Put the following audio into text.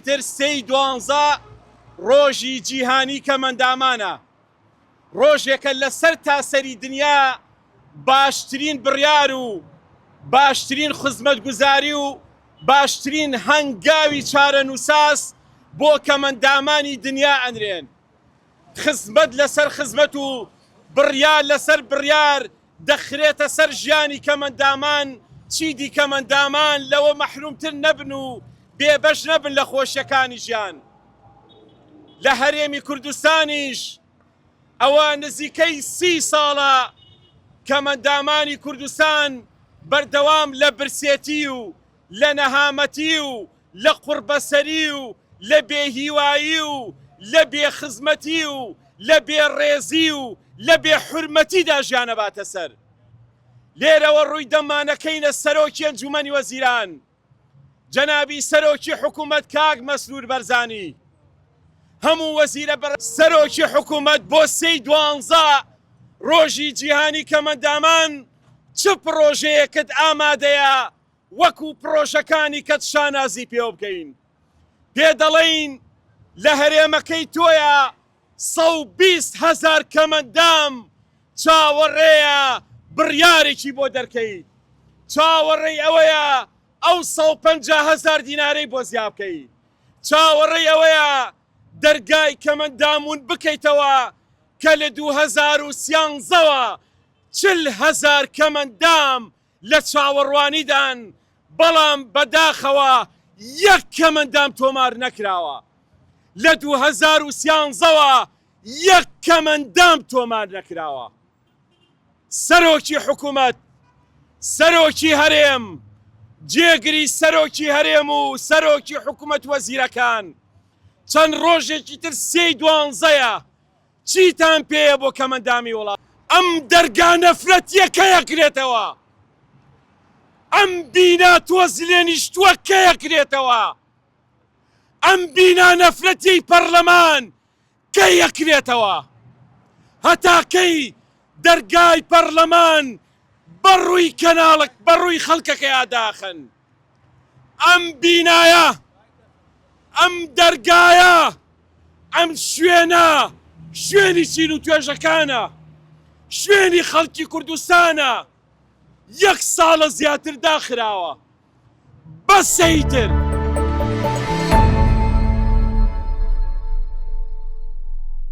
تر سێ ی دوانزە ڕۆژی جیهانی کەمەندامانە، ڕۆژێکە لە سەر تاسەری دنیا باشترین بڕیار و باشترین خزمەتگوزاری و باشترین هەنگاوی چارەنوساس بۆ کەمەندامانی دنیا ئەنرێن. خزمەت لەسەر خزمەت و بڕیار لەسەر بڕیار دەخرێتە سەر ژیانی کەمەندامان چیدی کەمەندامان لەوە مەحرومتر نەبن و بێ بەش نەبن لە خۆشیەکانی ژیان لە هەرێمی کوردستانیش ئەوە نزیکەی سی ساڵە کەمەندامانی کوردستان بەردەوام لە برسێتی و لە نەهامەتی و لە قوڕبەسەری و لە بێ هیوایی و لە بێ خزمەتی و لە بێ ڕێزی و لە بێ حورمەتیدا ژیان ئەباتە سەر. لێرەوە ڕووی دەمانەکەینە سەرۆکی ئەنجومەنی وەزیران جەنابی سەرۆکی حکومەت کاک مەسرور بەرزانی هەموو وەزیرە بە سەرۆکی حکومەت بۆ سێی دوانزە ڕۆژی جیهانی کەمەندامان چ پڕۆژەیەکت ئامادەیە وەکو پڕۆژەکانی کەت شانازی پێوە بکەین پێ دەڵێین لە هەرێمەکەی تۆیە سەد و بیست هەزار کەمەندام چاوەڕێیە بڕیارێکی بۆ دەرکەیت چاوەڕێی ئەوەیە ئەو سەد و پەنجا هەزار دینارەی بۆ زیابکەی چاوەڕێی ئەوەیە دەرگای کەمەندامون بکەیتەوە کە لە دوو هەزار و سیانزەوە چل هەزار کەمەندام لە چاوەڕوانیدان، بەڵام بەداخەوە یەک کەمەندام تۆمار نەکراوە. لە دوو هەزار و سیانزە وە یەک کەمەندام تۆمار نەکراوە. سەرۆکی حکومەت، سەرۆکی هەرێم، جێگری سەرۆکی هەرێم و سەرۆکی حکومەت وەزیرەکان چەند ڕۆژێکی تر سێی دوانزەیە، چیتان پێیە بۆ کەمەندامی وڵات ئەم دەرگا نەفرەتیە کەیەکرێتەوە ئەم بینا تۆز لێنیشتوە کەیەکرێتەوە ئەم بینا نەفرەتیەی پەڕلەمان کەی یەکرێتەوە هەتا کەی دەرگای پەڕلەمان بەڕوی کەناڵک بەڕوی خەڵکەکەیا داخەن. ئەم بینایە، ئەم دەرگایە، ئەم شوێنە، شوێنی چین و توێژەکانە، شوێنی خەڵکی کوردستانە، یەک ساڵە زیاتر داخراوە. بەسە ئیتر.